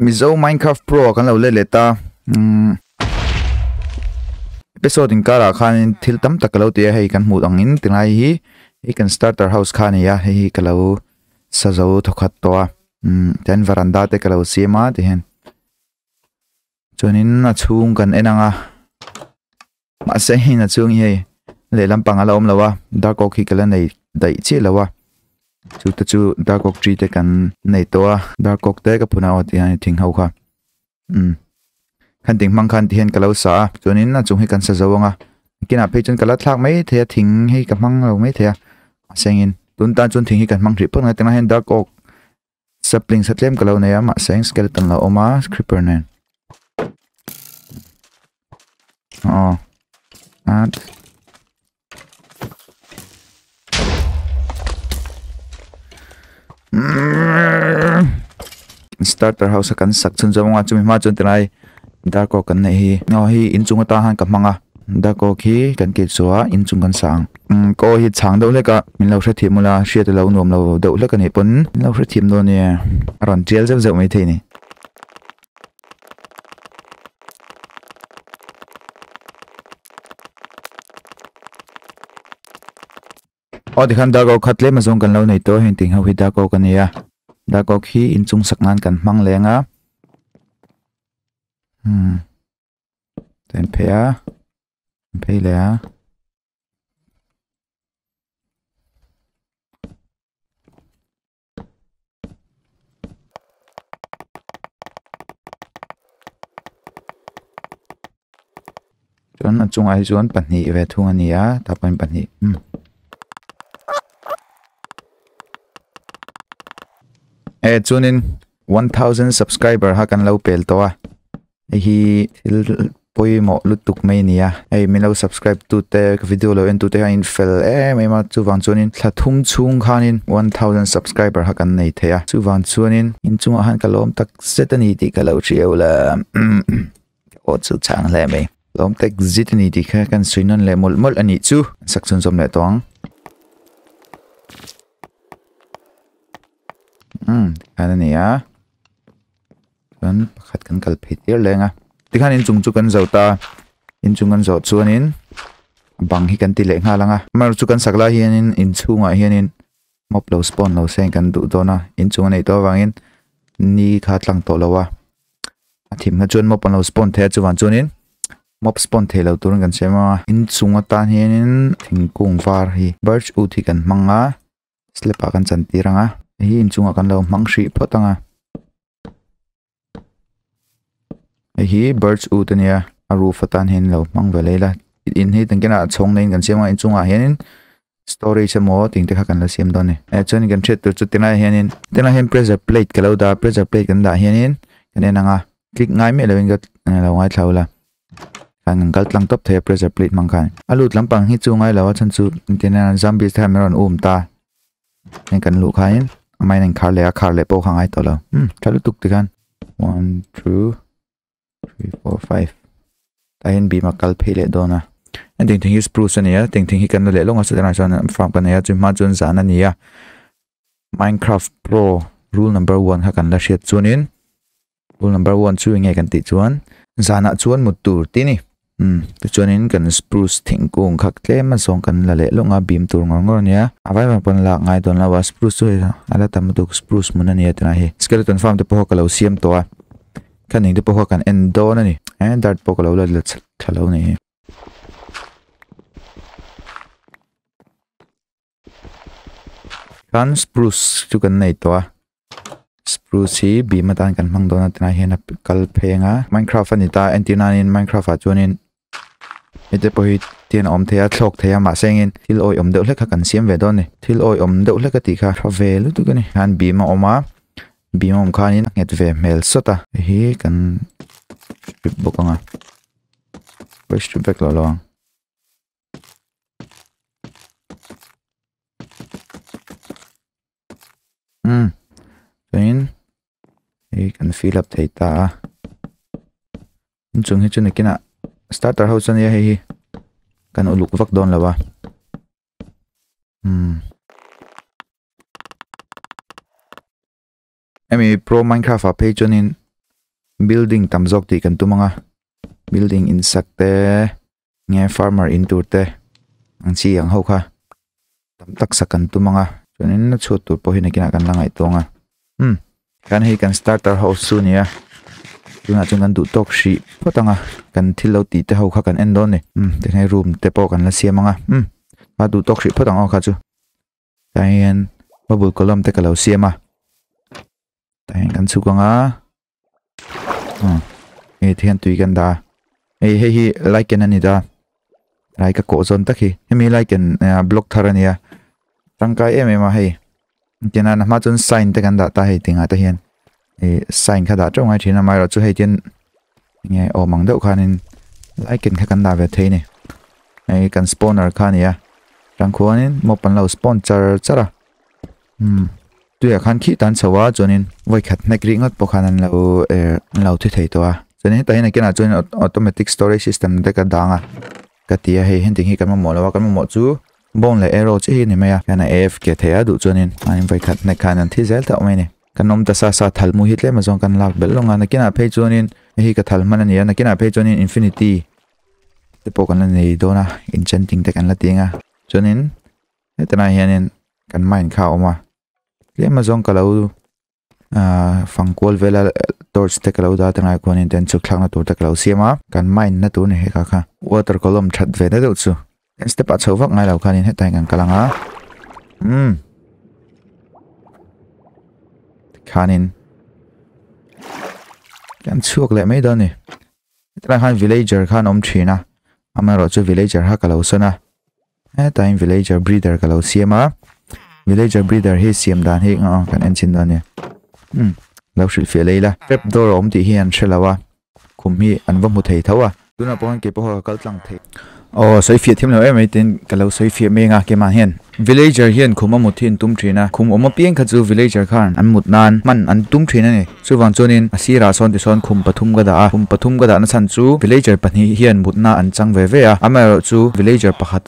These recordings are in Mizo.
Mizo Minecraft Pro a kan lo let let a umm episode in karah khanin thil tam tak ka lo ti a hei kan hmuh angin ti ngai hi hei kan starter house kha a ni a hei hi ka lo sa zo thaw khat tawh a umm tian veranda te ka lo siam a ti hian. Chuanin a chhung kan en anga. Mahse hei na chung hei lehlam pang ala omlo a dark oak hi kala nei daih chiah lo a chu te chu dark oak tree te kan nei tawh a dark oak te ka phuna aw ti hian thing ho kha um khan ding mang khan ti hian kalo sa a chuanin a chung hi kan sa zo anga kina phei chun kala thlak mai the a thing hei ka mang lo mai the a sengin tun tan chun thing hi kan mang hrih phawt ngai tang hian dark oak Sapling sa tlem ka lo nei a mahse eng skeleton lo awm a creeper nen aw at starter house a kan sak chhun zawm anga chumi hma chuan tilai Darkok kan neih hi aw hei in chung ata han ka hmang a Darkok hi kan ti chu a in chung kan sa ang umm ka aw hi chhang deuh hlek a min lo hre thim ula hriat alo nuam lo deuh hlek a nih pawn min lo hre thim dawn a nia a rawn tial zeuh zeuh mai thei a ni. Aw tikhan dark oak kha tlem azawng kan lo nei tawh, heng ting ho hi dark oak a ni a, dark oak hi in chung sak nan kan hmang leng a, hmm tah hian phei a, phei leh a. chuan a chungah hi chuan pahnih ve thung a ni a tah pawhin pahnih umm eh chuanin one thousand subscriber ha kan lo pel tawh a. Hei hi thil pawimawh lutuk mai a ni a, hei min lo subscribe tu te ka video lo en tu te hianin fel em em a, chuvang chuanin thla thum chhung khanin one thousand subscriber kha kan nei thei a, chuvang chuanin inchungah khan ka lawm tak zet a ni tih ka lo hriau la aw chu chang hle mai, lawm tak zet a ni tih kha kan sawi nawn leh mawlh mawlh a nih chu, sak chhun zawm leh tawh ang umm tikhan a ni a. chuan pakhat kan kal phei tir leng a tikhan inchung chu kan zauh ta inchung kan zawh chuanin bang hi kan ti leh nghal ang a amaherawhchu chu kan sak lai hianin inchhungah hianin mop lo spawn lo se kan duh dawn a inchung a neih tawh avangin ni kha a tlang tawh lo a a thimna chuan mop an lo spawn thei a chuvang chuanin mop spawn thei lo turin kan siam a inchung atan hianin thingkung var hi birch wood hi kan hmang a. slab ah kan chan tir ang a hei hi inchung ah kan lo hmang hrih phawt ang a hei hi birds ute a ni a a roof atan hian in lo hmang ve leh ila in hi engtin nge chhawng naiin kan siam a inchung ah hian in storage emaw tih engte kha kan la siam dawn a ni eh chuan in kan hriat tur chu ti lai ah hian in ti lai ah hian in pressure plate ka lo dah a pressure plate kan dah hian in kan en ang a click ngai miah lo in ka lo ngaithla ula. Khan an kal tlang tawp thei a pressure plate hmang khan. A lut lampang hi chu ngai lo a chhan chu tin a zombies te khan min rawn um ta. Heng kan luh khain a mine in khar leh a khar leh pawh kha ngai tawh lo. Hmm tha lutuk ti khan. One two three four five. Tahin bim a kal phei leh dawn a. A ding thing hi spruce a nia. Ding thing hi kan la leh lawng a satirah chuan farm kan nei a chumi hma chuan zan a nia. Minecraft pro rule number one kha kan la hriat chuanin Rule number one chu enge kan tih chuan zanah chuan mut tur ti ni. Um, ti chuanin kan spruce thingkung khak tlem a zawng kan la leh lawng a bim tur ngawr ngawr ania. A vai vang pawn lak ngai dawn lo a spruce chu hei a la tam lutuk spruce hmun ania tunah hi. Skeleton farm te pawh ka lo siam tawh a. Khang ning te pawh kan en dawn a ni. Eh, dart pawh ka lo la la chhak thla lo ni. Chuan spruce chu kan nei tawh a spruce hi bim atan kan hmang dawn a ti lai hian a kal pheng a minecraft a ni ta en tir nan in minecraft ah chuan in hete pawh hi tian a awm thei a thlawk thei a mahse engin thil awi awm deuh hlek kha kan siam ve dawn a ni thil awi awm deuh hlek a tih kha hre ve lutuk a ni han bim a awm a bim a awm khan in a nghet ve hmel sawt a hei hi kan strip bawk ang a strip vek loh lo ang. umm chuanin hei kan fill up thei ta a inchung hi chu nakinah starter ho chuan hei hi kan uluk vak dawn lo va umm. Hemi pro minecraft a phei chuan in building tam zawk tih kan tum anga building in sat te nge farmer in tur te ang chi ang ho kha tam tak sak kan tum anga chuan in na chhut tur pawh hi nakina kan la ngai tawng a hm kan hei kan starter house chu nia tunah chuan kan duh tawk hrih phawt anga kan thil lo ti te ho kha kan en dawn ni hm tikhnai room te pawh kan la siam anga hm a duh tawk hrih phawt ang aw kha chu Tah hian bubble column te ka lo siam a. Tah hian kan chhuk ang a. Hmm. Hei te hian tui kan dah a. Hei hei hi lichen a ni ta. Rai ka koh zawn tak hi. Hemi lichen uh, block thar a ni a. Tangkai em em a hei. Tina na hma chun sign te kan dah ta hei tinga te hian. ih sign kha dah teuh ngai thin a mah erawh chu hei tin nge awm ang deuh khanin like in kha kan la ve thei a ni hei kan spawner kha a ni a chang khuanin mop an lo spawn char char a hmm tuiah khan khih ta an chho a chuanin vawi khat hnek rih ngat pawh khan an lo er an lo thi thei tawh a chuan hetah hian a kianah chuan automatic storage system te ka dang a ka ti a hei hentih hi kan mamawh lo a kan mamawh chu bawng leh arrow che hi a ni mai a hian a afk thei a duh chuanin hmain vawi khat hnek khan an thi zel tauh mai a ni. Kan awm ta sa sa thal mu hi tlema zawng kan lak belh lawng a, nakinah phei chuanin heihi ka thal hman a ni a, nakinah phei chuanin infinity te pawh kan la nei dawn a, enchanting te kan la teng a, chuanin hetilai hianin kan mind kha a awm a, tlema zawng ka lo fang kual vel a torch te ka lo dar ta ngai kuanin then chhuk thlakna tur te ka lo siam a, kan mind na tur ni hi ka kha water column that ve na deuh chu. Heng step a chho vak ngai lo khanin heta engkan ka lang a um khanin kan chhuak leh mai dawn ni heta khan villager khan om thin a ama ro chu villager ha ka lo sawn a heta in villager breeder ka lo siam a villager breeder hi siam dan hi kan en chin dawn ni um lo hrilh fiah lei la trap door awm tih hi an hre lo a khum hi an va hmu thei tho a. Tunah pawh hian kei pawh ka kal tlang thei a. Aw, sawi fiah thiam lo em mai tiin ka lo sawi fiah meng a, keimah hian villager hian khum a mut hi an tum thin a, khum awm apiang kha chu villager khan an mut nan hman an tum thin a ni. Chuvang chuanin a sirah sawn tisawn khum pathum ka dah a, khum pathum ka dahna chhan chu villager pahnih hian mutna an chang ve ve a, amaherawhchu villager pakhat,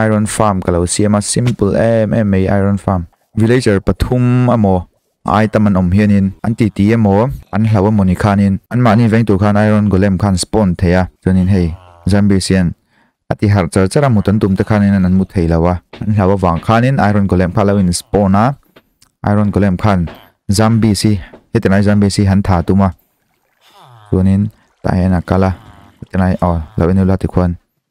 Iron farm ka lo siam a simple em em mai iron farm. Villager pathum a maw a item an awm hian in an ti ti a maw an hlau a maw ni khan in an mah ni veng tur khan iron golem khan spawn thei a chuan in hei zombies hian a ti harh char char a mut an tum te khan in an mu thei lo a an hlau avang khan in iron golem kha lo in spawn a iron golem khan zombies hi heti lai zombies hi han tha tum a chuan in tah hian a kal a heti lai aw lo en ula ti khuan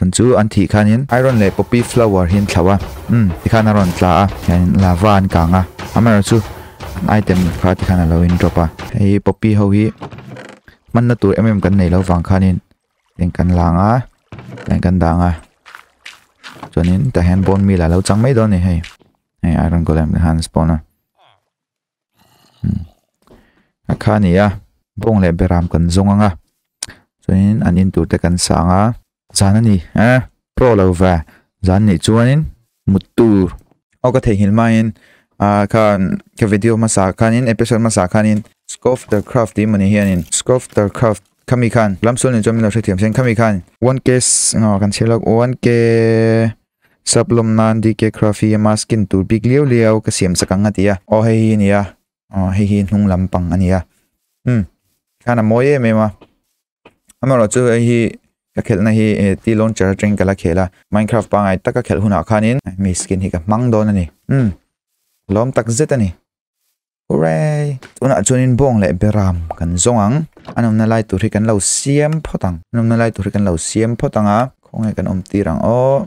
Chun chu an thih khanin I rawn leh poppy flower hi an thlauh a, umm ti khan a rawn tla a, chuanin lava an kang a, amaherawh chu an item kha ti khan a lo in drop a. Hei hi poppy ho hi hmanna tur em em kan nei lo vang khanin heng kan lang a, heng kan dang a, chuanin tah hian bone meal a lo chang mai dawn a ni hei, hei iron golem te khan an spawn a. a kha a ni a bawng leh beram kan zawng anga chuanin an in tur te kan sang a zan a ni a pawh lo va zan nih chuanin mut tur aw ka theihnghilh maiin ah khan ka video hmasa khanin episode hmasa khanin scoff the craft tih mawni hianin scoff the craft khami khan lamsualin chuan min lo hrethiam sin khami khan one k kan chhiar lak one k Sap lawm nan DK Craft hi ama skin tur bik liau liau ka siam chak ang a ti a. Aw hei hi a ni a, aw hei hi hnung lam pang a ni a. Umm khian a mawi em em a. Amarawh chu hei hi ka khelhna hi e T launcher atangin ka la khel a. Minecraft pangai tak a khelh hunah khanin mi skin hi ka hmang dawn a ni. Umm lawm tak zet a ni. Hooray! Tunah chuanin bawng leh beram kan zawng ang. An awmna lai tur hi kan lo siam phawt ang. An awmna lai tur hi kan lo siam phawt ang a. Khawnge kan awm tir ang aw.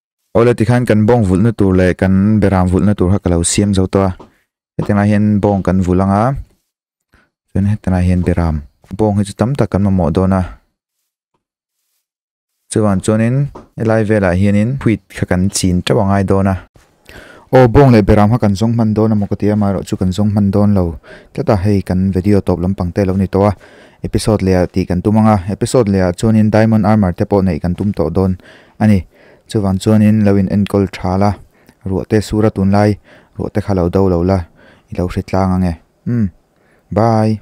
Awle tikhan kan bawng vulhna tur leh kan be ram vulhna tur kha ka lo siam zo tawh a, heti lai hian bawng kan vulh ang a, chuan heti lai hian be ram, bawng hi chu tam tak kan mamawh dawn a, chuvang chuanin helai velah hianin wheat kha kan chin teuh a ngai dawn a, aw bawng leh be ram kha kan zawng hman dawn a maw ka ti a, amaherawh chu kan zawng hman dawn lo tlat a, hei kan video tawp lampang te lo ni tawh a, episode leh ah tih kan tum ang a, episode leh ah chuanin diamond armour te pawh neih kan tum tawh dawn. A ni. Chuvang chuanin lo in enkawl tha la, ruahte sur a tun lai, ruahte kha lo do lo la, i lo hre tlang ange. Umm. Bye.